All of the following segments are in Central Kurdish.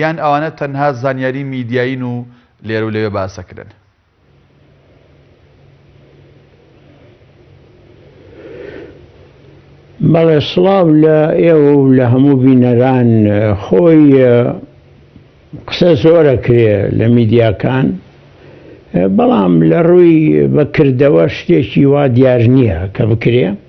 یان ئەوانە تەنها زانیاری میدیایین و لێرەو لەوێ باس ئەکرێن؟ بەڵێ سڵاو لە ئێوە و لە هەموو بینەران خۆی قسە زۆرە کرێ لە میدیاکان بەڵام لە ڕووی بەکردەوە شتێکی وا دیار نییە کە بکرێ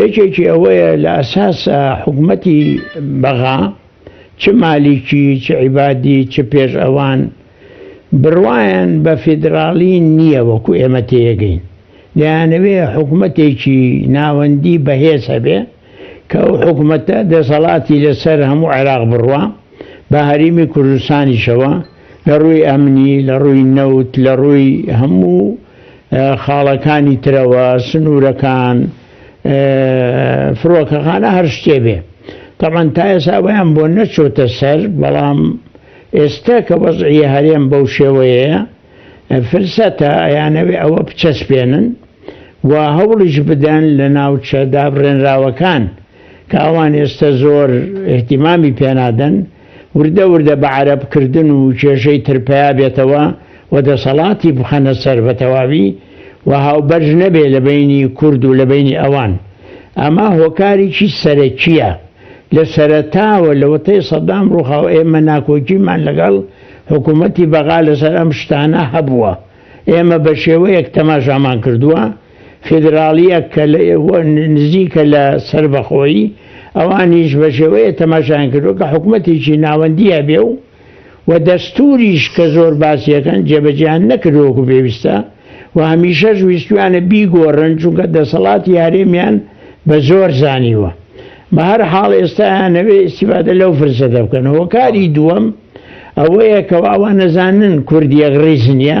یەکێکی ئەوەیە لە ئەساسا حکومەتی بەغا چ مالیکی چ عیبادی چ پێش ئەوان بڕوایان بە فیدراڵی نییە وەکو ئێمە تێیەگەین دەیانەوێ حکومەتێکی ناوەندی بەهێز هەبێ کە ئەو حکومەتە دەسەڵاتی لەسەر هەموو عێراق بڕوا بە هەریمی کوردستانیشەوە لە ڕووی ئەمنی لە ڕووی نەوت لە ڕووی هەموو خاڵەکانی ترەوە سنوورەکان فڕۆکەخانە هەر شتێ بێ تەمان تا ئێساوەیان بۆ نەچۆتە سەر بەڵام ئێستا کە وەزعە هەرێم بەو شێوەیە فرسەتە ئەیانەوێ ئەوە بچەسپێنن و هەوڵیش بدەن لە ناوچە دابڕێنراوەکان کە ئەوان ئێستا زۆر احتیمامی پێنادەن وردە وردە بە عەرەب کردن و کێشەی تر پیا بێتەوە و دەسەڵاتی بخەنە سەر بە تەواوی و هاوبەرژ نەبێ لە بەینی کورد و لە بەینی ئەوان. ئەمە هۆکاریکی سەرەکیە. لە سەرەتاوە لە وەتەی سەدام ڕوخا و ئێمە ناکۆکیمان لەگەڵ حکومەتی بەغا لەسەر ئەم شتانە هەبووە. ئێمە بە شێوەیەک تەماشامان کردووە، فیدراڵییە کە نزیکە لە سەربەخۆیی، ئەوانیش بە شێوەیە تەماشایان کردووە کە حکومەتێکی ناوەندی هەبێ و و دەستووریش کە زۆر باسی ئەکەن جێبەجێیان نەکردووە وەکو پێویستە و هەمیشەش ویستوویانە بیگۆڕن چونکە دەسەڵاتی هەرێمیان بە زۆر زانیوە. بە هەر حاڵ ئێستا ئەیانەوێ ئیستیفادە لەو فرسەتە بکەن. هۆکاری دووەم ئەوەیە کەوا ئەوان ئەزانن کورد یەکڕیز نییە،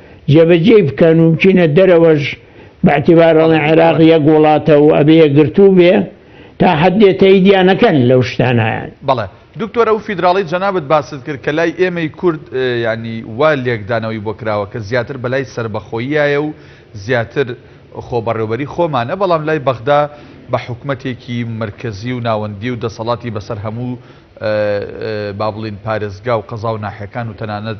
جێبەجێی بکەن و بچینە دەرەوەش بەعتیبار ئەڵێن عێراق یەک وڵاتە و ئەبێ یەکگرتوو بێ تا حەدێ تەیدیا نەکەن لەو شتانە. بەڵێ دکتۆر ئەو فیدراڵی جەنابت باست کرد کە لای ئێمەی کورد یانی وا لێکدانەوەی بۆ کراوە کە زیاتر بەلای سەربەخۆییایە و زیاتر خۆبەڕێوبەری خۆمانە بەڵام لای بەغدا بە حکومەتێکی مرکزی و ناوەندی و دەسەڵاتی بەسەر هەموو با بڵین پارێزگا و قەزا و ناحێکان و تەنانەت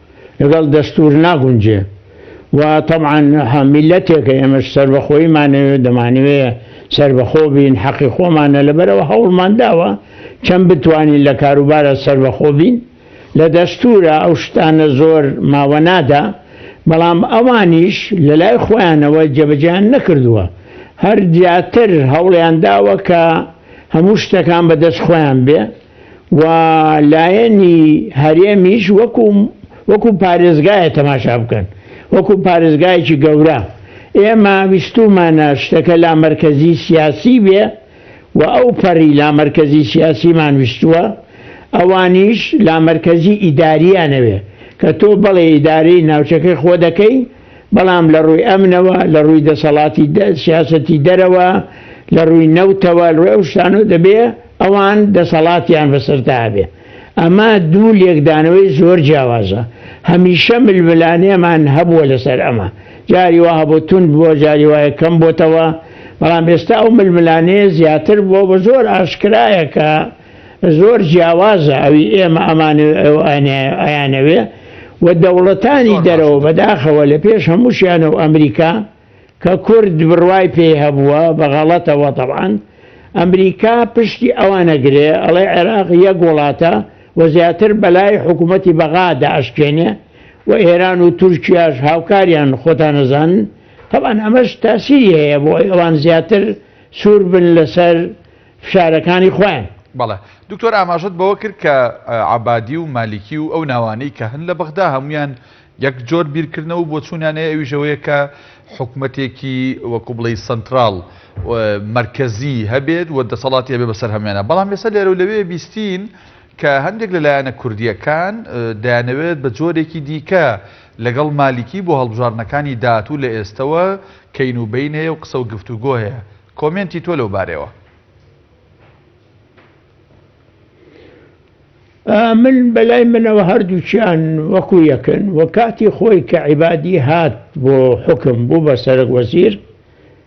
لەگەڵ دەستور ناگونجێ و تەبعەن میللەتێکە ئێمەش سەربەخۆیمانەوێ دەمانەوێ سەربەخۆ بین حەقی خۆمانە لەبەرەوە هەوڵمان داوە چەند بتوانین لە کاروبارە سەربەخۆ بین لە دەستورە ئەو شتانە زۆر ماوە نادا بەڵام ئەوانیش لە لای خۆیانەوە جێبەجیان نەکردووە هەر زیاتر هەوڵیان داوە کە هەموو شتەکان بەدەست خۆیان بێ و لایەنی هەرێمیش وەکو وەکو پارێزگایە تەماشا بکەن وەکو پارێزگایەکی گەورە ئێمە ویستومانە شتەکە لا مەرکەزی سیاسی بێ و ئەو پەڕی لا مەرکەزی سیاسیمان ویستووە ئەوانیش لا مەرکەزی ئیداریانەوێ کە تۆ بەڵێ ئیدارەی ناوچەکەی خۆ دەکەی بەڵام لە ڕووی ئەمنەوە لە ڕووی دەسەڵاتی سیاستی دەرەوە لە ڕووی نەوتەوە ڕێ ئەو شتانە دەبێ ئەوان دەسەڵاتیان بەسەردا هەبێ. ئەمە دوو لێکدانەوەی زۆر جیاوازە. هەمیشە ململانێمان هەبووە لەسەر ئەمە. جاری وا هەبوو توند بووە، جاری وایە کەم بۆتەوە. بەڵام ئێستا ئەو ململانێیە زیاتر بووە و زۆر ئاشکرایە کە زۆر جیاوازە ئەوی ئێمە ئەمانەوێ و ئەو ئەیانەوێ و دەوڵەتانی دەرەوە بەداخەوە لە پێش هەمووشیانە و ئەمریکا کە کورد بڕوای پێی هەبووە بە غەڵەتەوە تەبعەن ئەمریکا پشتی ئەوان ئەگرێ ئەڵێ عێراق یەک وڵاتە و زیاتر بەلای حکوومەتی بەغا دا ئەشکێنێ و ئێران و تورکیاش هاوکاریان خۆتان ئەزانن تەبعەن ئەمەش تاسیری هەیە بۆ ئەوەی ئەوان زیاتر سوور بن لەسەر فشارەکانی خۆیان. بەڵێ دکتۆر ئاماژەت بەوە کرد کە عەبادی و مالیکی و ئەو ناوانەی کە هەن لە بەغدا هەموویان یەک جۆر بیرکردنەوە و بۆچوونیان هەیە ئەویش ئەوەیە کە حکومەتێکی وەکوو بڵێی سەنتراڵ مەرکەزی هەبێت و دەسەڵاتی هەبێت بەسەر هەمویانە بەڵام ئێستا لێرە و لەوێ بیستین کە هەندێک لە لایەنە کوردیەکان دەیانەوێت بە جۆرێکی دیکە لەگەڵ مالیکی بۆ هەڵبژاردنەکانی داهاتوو لە ئێستەوە کەین و بین هەیە و قسە و گفتوگۆ هەیە کۆمێنتی تۆ لەو بارەوە من بەلای منەوە هەردووچیان وەکو یەکن و کاتی خۆی کە عیبادی هات بۆ حکم بوو بە سەرک وەزیر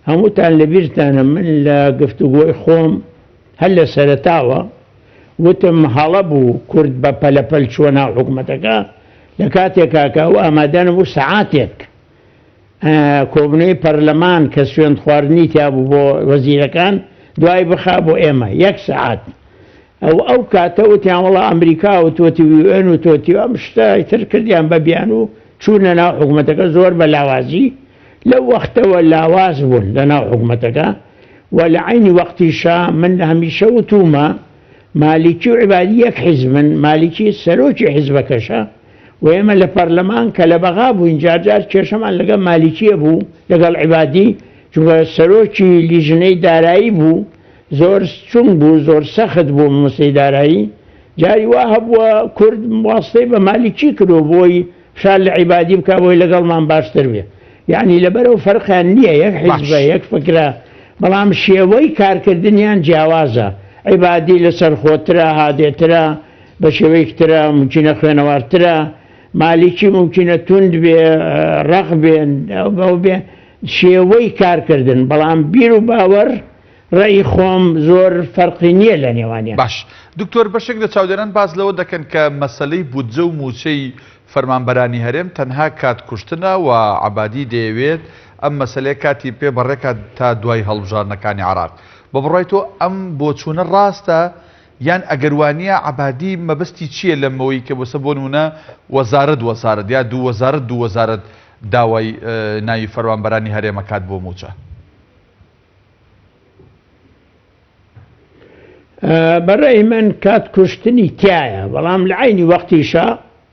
هەمووتان لەبیرتانە من لە گفتوگۆی خۆم هەر لە سەرتاوە وتم هەڵە بوو کورد بە پەلەپەل چوە ناو حکومەتەکە لە کاتێکاکە و ئامادەنم و سعاتێک کۆبنەی پەرلەمان کە سوێند خواردنی تیابوو بۆ وەزیرەکان دوای بخا بۆ ئێمە یەک سەعات ئەو ئەو کاتە وتیان وڵا ئەمریکا و تۆتی وێن و تۆتی ئەم شتە تر کردیان بە بیان و چوونە ناو حکوومەتەکە زۆر بە لاوازی لەو وەختەوە لاواز بوون لە ناو حکوومەتەکە و لە عینی وەختیشا من هەمیشە وتومە مالیکی و عبادی یەک حیزمن مالیکی سەرۆکی حیزبەکەشە و ئێمە لە پەرلەمان کە لە بەغا بووین جارجار کێشەمان لەگەڵ مالیکیە بوو لەگەڵ عیبادی چونکە سەرۆکی لیژنەی دارایی بوو زۆر چون بوو زۆر سەخت بوو مەسەی دارایی جاری وا هەبووە کورد واستەی بە مالیکی کرۆ بۆی فشار لە عیبادی بکە بۆی لەگەڵمان باشتر بێ یعنی لەبەرەوە فەرقیان نییە یەک حیزبە یەک فکرە بەڵام شێوەی کارکردنیان جیاوازە عیبادی لەسەر خۆترە هادێترە بە شێوەیەکی ترە ممکنە خوێنەوارترە مالیکی ممکنە توند بێ ڕق بێن بەو بێ شێوەی کارکردن بەڵام بیر و باوەڕ ڕێی خۆم زۆر فەرقی نییە لە نێوانە باش دکتۆر بەشێک لە چاودێران باز لەوە دەکەن کە مەسلەی بودجە و موچەی فەرمانبەرانی هەرێم تەنها کات کوشتنە و عبادی دەیەوێت ئەم مەسلەیە کاتی پێ بەڕێکات تا دوای هەڵبژاردنەکانی عراق بە بڕای تۆ ئەم بۆچوونە ڕاستە یان ئەگەر وانیە عەبادی مەبەستی چیە لەمەوەی کە بۆسە بۆ نمونە وەزارەت وەزارەت یا دوو وەزارەت دوو وەزارەت داوای ناوی فەروانبەرانی هەرێمە کات بۆ موچە. بەڕێ من کات کوشتنی تایە بەڵام لە عینی وەختیشە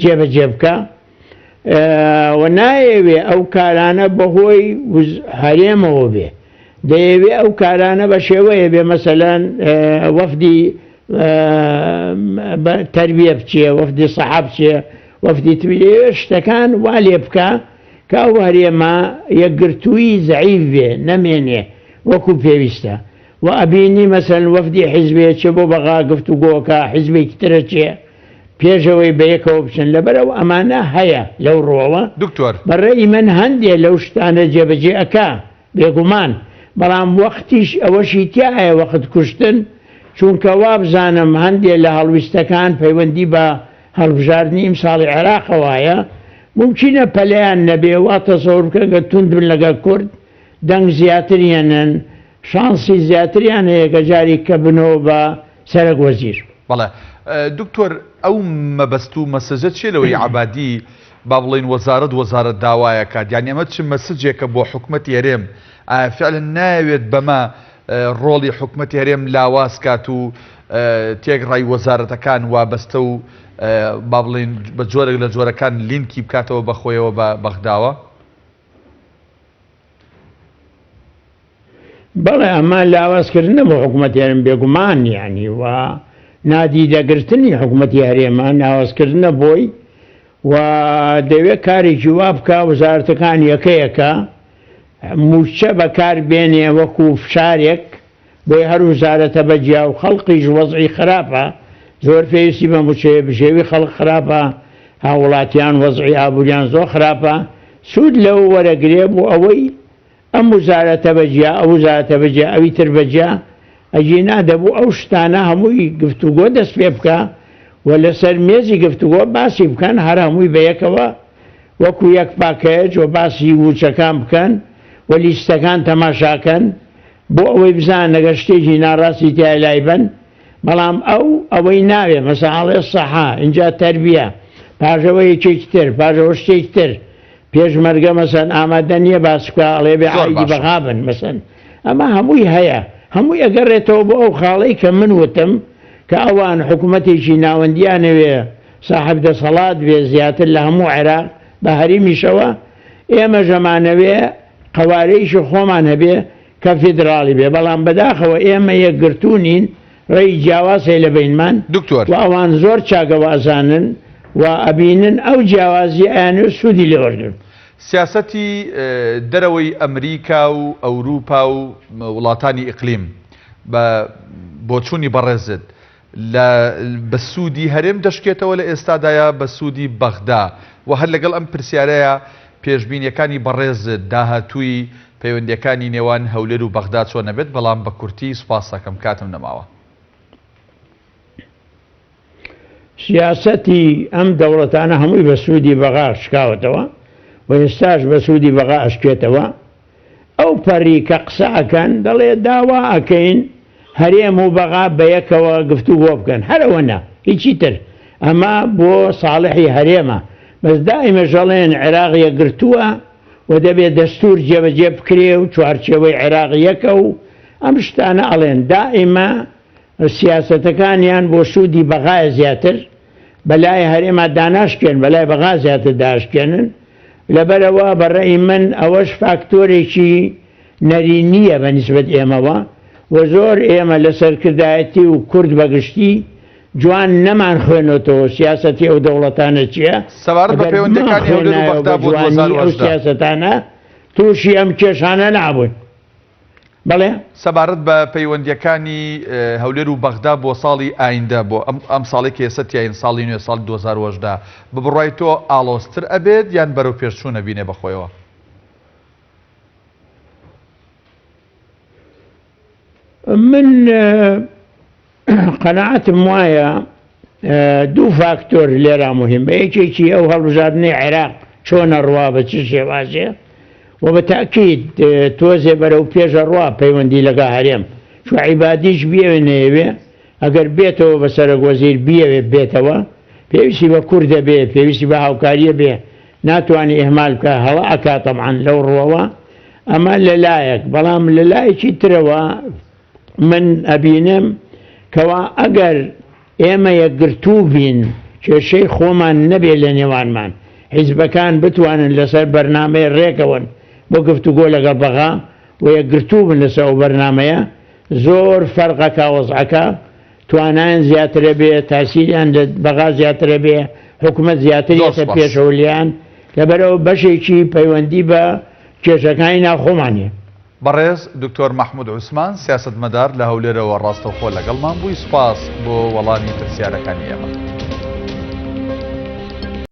جێبەجێ بکا و نایەوێ ئەو کارانە بەهۆی هەرێمەوە بێ دەیەوێ ئەو کارانە بە شێوەیە بێ مەسەلەن وەفدی تربیە بچێ وەفدی سەحە بچێ وەفدی تبیێ شتەکان وا لێ بکە کە ئەو هەرێمە یەکگرتووی زعیف بێ نەمێنێ وەکو پێویستە و ئەبینی مەسەن وەفدی حیزبێ چێ بۆ بەغا گفتوگۆکە حیزبێکی ترە چێ پێش ئەوەی بەیەکەوە بچن لەبەر ئەو ئەمانە هەیە لەو ڕوەوە دکتۆر. بە ڕەئی من هەندێ لەو شتانە جێبەجێ ئەکا بێگومان بەڵام وەختیش ئەوەشی تیایە وەخت کوشتن چونکە وابزانم هەندێ لە هەڵویستەکان پەیوەندی بە هەڵبژاردنی ئیمساڵی عێراقەوایە مومکینە پەلیان نەبێ وا تەسەور بکەن گەر توند بن لەگەڵ کورد دەنگ زیاتر یەنەن شانسی زیاتریان هەیە کە جاری کە بنەوە بە سەرەک وەزیر. بەڵێ دکتۆر ئەو مەبەست و مەسەجە چیە لەوەی عەبادی با بڵێین وەزارەت وەزارەت داوایەکات یانی ئەمە چ مەسجێکە بۆ حکومەتی هەرێم ئایا فعلن ناوێت بەمە ڕۆڵی حکومەتی هەرێم لاواز کات و تێک ڕای وەزارەتەکان وابەستە و با بڵێن بە جۆرێک لە جۆرەکان لینکی بکاتەوە بەخۆیەوە بە بەغداوە؟ بەڵێ ئەمە لاوازکردنە بۆ حکوومەت هێرم بێگومان یانی و نادیدەگرتنی حکوومەتی هەرێمە ناوازکردنە بۆی و دەوێت کارێکی وا بکە وەزارەتەکان یەکەیەکە موچە بەکار بێنێ وەکو فشارێک بۆیە هەر وزارەتە بە جیا و خەڵقیش وەزعی خراپە، زۆر پێویستی بە موچەیە، بژێوی خەڵک خراپە، هاووڵاتیان وەزعی ئابووریان زۆر خراپە، سوود لەوە وەرەگرێ بۆ ئەوەی ئەم وزارەتە بە جیا، ئەو وزارەتە بە جیا، ئەوی تر بە جیا، ئەگینا دەبوو ئەو شتانە هەمووی گفتوگۆ دەست پێ بکا و لەسەر مێزی گفتوگۆ باسی بکەن، هەر هەمووی بە یەکەوە وەکوو یەک پاکەج و باسی ووچەکان بکەن و لیستەکان تەماشا کەن، بۆ ئەوەی بزانن ئەگەر شتێکی ناڕاستی تیایە لایبەن بەڵام ئەو ئەوەی ناوێ مەسەن ئەڵێ سەحا ئینجا تەربیە پاژەوە یەکێکی تر پاژەوە شتێکی تر پێشمەرگە مەسەن ئامادە نییە باس بکە ئەڵێ بێ زۆر عەیدی باشە. بەغابن مەسەن ئەمە هەمووی هەیە هەمووی ئەگەڕێتەوە بۆ ئەو خاڵەی کە من وتم کە ئەوان حکوومەتێکی ناوەندیانەوێ ساحب دەسەڵات بێ زیاتر لە هەموو عێراق بە هەریمیشەوە ئێمەش ئەمانەوێ قەوارەیشی خۆمان هەبێ کە فیدراڵی بێ بەڵام بەداخەوە ئێمە یەکگرتوو نین ڕێی جیاواز هەیە لە بەینمان دکتۆر. و ئەوان زۆر چاکە وئەزانن و ئەبینن ئەو جیاوازیە ئەیانەوێ سوودی لێ وەرگرن. سیاسەتی دەرەوەی ئەمریکا و ئەوروپا و وڵاتانی ئیقلیم بە بۆچوونی بەڕێزت، لە بە سوودی هەرێم دەشکێتەوە لە ئێستادا یا بە سوودی بەغدا؟ وە هەر لەگەڵ ئەم پرسیارەیا پێشبینیەکانی بەڕێزت داهاتووی پەیوەندیەکانی نێوان هەولێر و بەغدا چۆن ئەبێت بەڵام بە کورتی سوپاست ئەکەم کاتم نەماوە. سیاسەتی ئەم دەوڵەتانە هەمووی بە سوودی بەغا شکاوەتەوە و ئێستاش بە سوودی بەغا ئەشکێتەوە، ئەو پەڕی کە قسە ئەکەن دەڵێ داوا ئەکەین هەرێم و بەغا بەیەکەوە گفتوگۆ بکەن هەر ئەوەنە هیچی تر ئەمە بۆ ساڵحی هەرێمە بەس دائیمەش ئەڵێن عێراق یەکگرتووە و دەبێ دەستور جێبەجێ بکرێ و چوارچێوەی عێراق یەکە و ئەم شتانە ئەڵێن دائیمە سیاسەتەکانیان بۆ سوودی بەغایە زیاتر بەلای هەرێما داناشکێن بەلای بەغا زیاتر داشکێنن لەبەرەوە بەڕێی من ئەوەش فاکتۆرێکی نەرینیە بە نسبەت ئێمەوە و زۆر ئێمە لە سەرکردایەتی و کورد بەگشتی جوان نەمان خوێنۆتەوە سیاستی ئەو دەوڵەتانە چییە سەبارەت بە پەیوەندەکانی ئەو سیاستانە تووشی ئەم کێشانە نابوون. بەڵێ. سەبارەت بە پەیوەندییەکانی هەولێر و بەغدا بۆ ساڵی ئایندە بۆ ئەم ساڵی کە ئێستا تیاین ساڵی نوێ ساڵی دوو هەزار و هەژدە بە بڕوای تۆ ئاڵۆزتر ئەبێت یان بەرەو پێشچوون ئەبینێ بە خۆیەوە؟ من قەناعەتم وایە دوو فاکتۆر لێرا مهمە یەکێکی ئەو هەڵبژاردنەی عێراق چۆنە ڕوا بە چی شێوازێ و بە تاکیت تۆزێ بەرەو پێشە ڕوا پەیوەندی لەگا هەرێم چو عیبادیش بێوێ نەیەوێ ئەگەر بێتەوە بە سەرەک وەزیر بیەوێ بێتەوە پێویستی بە کوردە بێ پێویستی بە هاوکاریە بێ ناتوانانی ئهمال بکە هەڵە ئەکاتەمان لەو ڕوەوە ئەمە لەلایەک بەڵام لەلایەکی ترەوە من ئەبینم کەوا ئەگەر ئێمە یەکگرتوو بین، کێشەی خۆمان نەبێ لە نێوانمان، حیزبەکان بتوانن لەسەر بەرنامەی رێکەون بۆ گفتوگۆ لەگەڵ بەغا و یەکگرتوو بن لەسەر ئەو بەرنامەیە، زۆر فەرقەکا وەزعەکە، توانایان زیاتر ئەبێ، تاسیریان لە بەغا زیاتر ئەبێ، حکومەت زیاتر زۆر یەتە سوپاس. پێشەوە لێیان، لەبەرئەوە بەشێکی پەیوەندی بە کێشەکانی ناوخۆمانە. بەڕێز دکتۆر مەحمود عوسمان سیاسەتمەدار لە هەولێرەوە ڕاستەوخۆ لەگەڵمان بووی سوپاس بۆ وەڵامی پرسیارەکانی ئێمە.